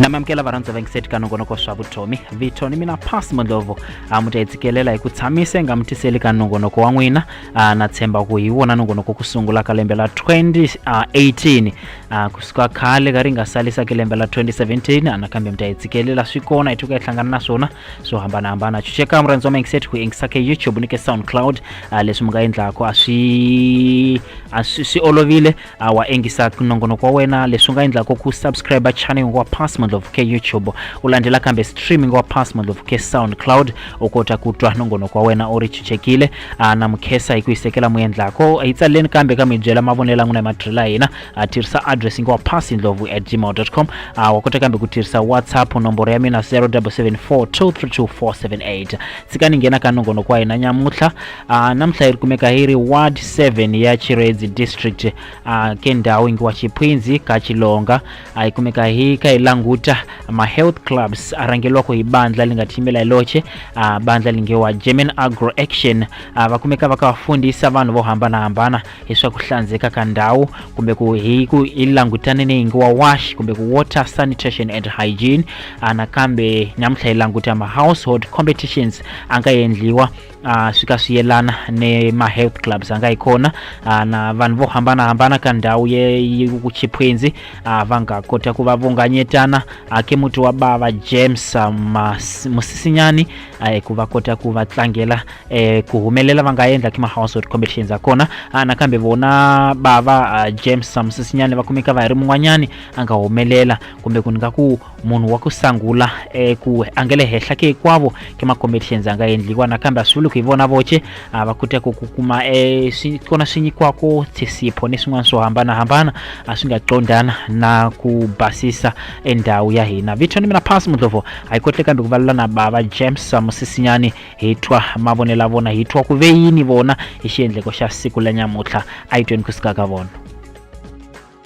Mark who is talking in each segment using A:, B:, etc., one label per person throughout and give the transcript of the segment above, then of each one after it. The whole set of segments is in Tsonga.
A: namamukela varhandza va yingiseti ka nongonoko swa vutomi vito ni mina pass mondlovo a mu ta yi tshikelela hi ku tshamise nga mu tiseli ka nongonoko wa n'wina a na tshemba ku hi wona nongonoko ku sungula ka lembe la 2018 Ah, kusuka khale ka ri nga salisa ke lembe la 2017 nakambe mi ta yi tshikelela swi kona hi tuka hi hlangana na swona swo hambanahambana chucheka murhandzi wa mindset ku yingisa ke youtube ni ke soundcloud ah, leswi mi nga endlaku a swi a swi swi olovile ah, wa engisa nongonoko wa wena leswi u nga endlaku ku subscribe channel wa pass mandlovu ke youtube u landzela kambe streaming wa pass mandlovu ke soundcloud u kota ku twa nongonoko wa wena u ri chuchekile a na mukhesa hi ku hisekela mu endlako hi tsaleleni kambe ka mi byela mavonelo ya n'wina hi madrilo ya hina a tirhisa address yi nga wa pasi ndlovu at gmail com a wa kota kambe ku tirhisa whatsapp nomboro ya mina 0774232478 tshikani nghena ka nongonoko wa hina nyamutlha a namuntlha yi ri kumeka hi ri ward 7 ya chiredzi district a ke ndhawu yi ngiwa chiphwindzi ka chilonga a hi kumeka hi kha hi languta ma-health clubs a rhangelwaka hi bandla li nga tiyimela hi loxe a bandla li nge wa german agro action a va kumeka va kha va fundisa vanhu vo hambanahambana hi swa ku hlandzeka ka ndhawu kumbe ku hi ku hi langutane ni yingi wa wash kumbe ku water sanitation and hygiene a nakambe nyamutlha hi languta ma-household competitions a nga endliwa uh, swi ka swi yelana ni ma-health clubs anga hi kona uh, na vanhu vo hambanahambana ka ndhawu yekuchiphwenzi uh, va nga kota ku va vunganyetana uh, ke muti wa bava james uh, mas, musisinyani uh, ku va kota ku va tlangela eh, ku humelela va nga endla ki ma-household competitions a kona uh, nakambe vona bava uh, james uh, musisinyani va kumeka va hi ri mun'wanyani a nga humelela kumbe ku ni nga ku munhu wa ku sangula eku a nge le henhla ke hinkwavo ke ma-competitions a nga endliwa nakambe a swi vuli ku hi vona voce a va kota ku ku kuma e swi kona swi nyikiwako tshisipho ni swin'wana swo hambanahambana a swi nga qondana na ku basisa endhawu ya hina vito ni mina pass mudlovo a yi kotle kambe ku valula na bava james musisinyani hi twa mavonelo ya vona hi twa ku ve yini vona hi xiendleko xa siku la nyamutlha a yi tweni ku sika ka vona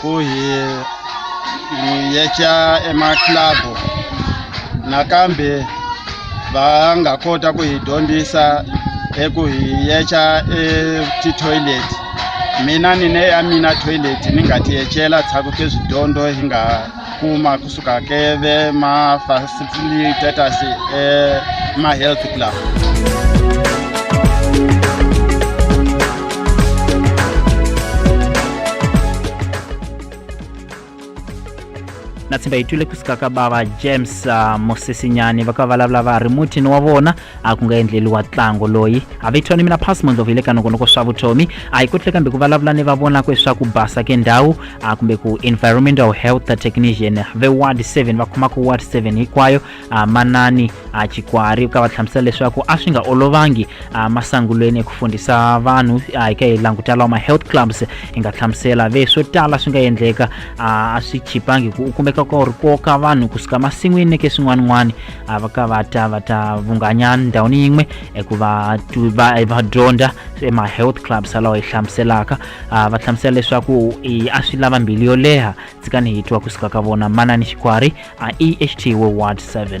A: ku hi hi yeca emaclabu nakambe va nga kota ku hi dyondzisa eku hi yeca etitoilet mina ni ne ya mina toilet ni nga ti yecela tshaku ke swidyondzo hi nga kuma kusuka keve ma facilitators eh, ma health club na tshemba hi twile kusuka ka bava james uh, mosisinyani va ka va vulavula va ri mutini wa vona a ku nga endleliwa ntlango loyi a vito ni mina pass mondlovu hi le ka nongonoko swa vutomi a hi ku tle kambe ku vulavula ni va vonaka leswaku basa ke ndhawu a kumbe ku environmental health technician ve ward 7 va khomaka ward 7 hinkwayo a manani a chikwari u ka va hlamusela leswaku a swi nga olovangi a masangulweni eku fundisa vanhu a hi ka hi languta lawa ma-health clubs hi nga hlamusela ve swo tala swi nga endleka a swi chipangi ku u kumeka ka u ri koka vanhu kusuka masin'wini neke swin'wana-n'wana ah, vakavata vatavunganya ndhawini yin'we eku va va dyondza ema-health clubs alawa hi hlamuselaka ah, va hlamusela leswaku a swi lava mbilu yo leha tsikani hi twa kusuka ka vona manani xikwari a eht wo ward 7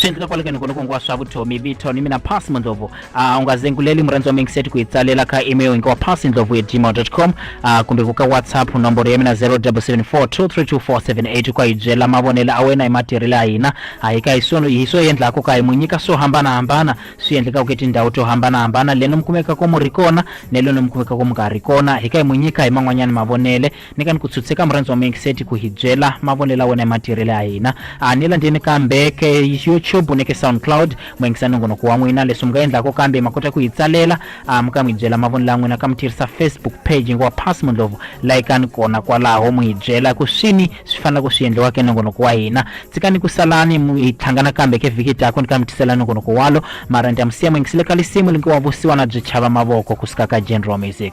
A: swi endleka kwale ka nikono kongo wa swa vutomi vito ni mina pasi mandlovu uh, ungazenguleli murhandzi wa mingiseti ku yi tsalela ka email hi wa pasi ndlovu hi gmail com uh, kumbe ku ka whatsapp nomboro ya mina 0774232478 ku yi byela mavonelo a wena hi matirhelo ya hina hayi ka hi swona hi swo endlaka ka hi mu nyika swo hambanahambana swi endlekaka etindhawu to hambanahambana leno mi kumekaka mu ri kona ne leno mi kumekaka mu nga ri kona hi ka hi mu nyika hi man'wanyana mavonele Ni ka ni ku tshutsheka murhandzi wa mina Xedi ku hi byela mavonelo ya wena hi matirhelo ya hina. A ni landzeni kambe ka YouTube ni ka SoundCloud mu yingisa nongonoko wa n'wina. Leswi mi nga endlaka kambe ma kota ku hi tsalela a mi ka mi hi byela mavonelo ya n'wina ka mi tirhisa Facebook page ngo wa Pass Mundlovu layikani kona kwalaho mu hi byela ku swini swi faneleke swi endliwa ka nongonoko wa hina. Tshikani ku salani mu hi tlhangana kambe ka vhiki tako ni ka mi tisela nongonoko walo mara ni ta mi siya mu yingisile ka lisimu lingiwa vusiwana byi chava mavoko ku suka ka General Music.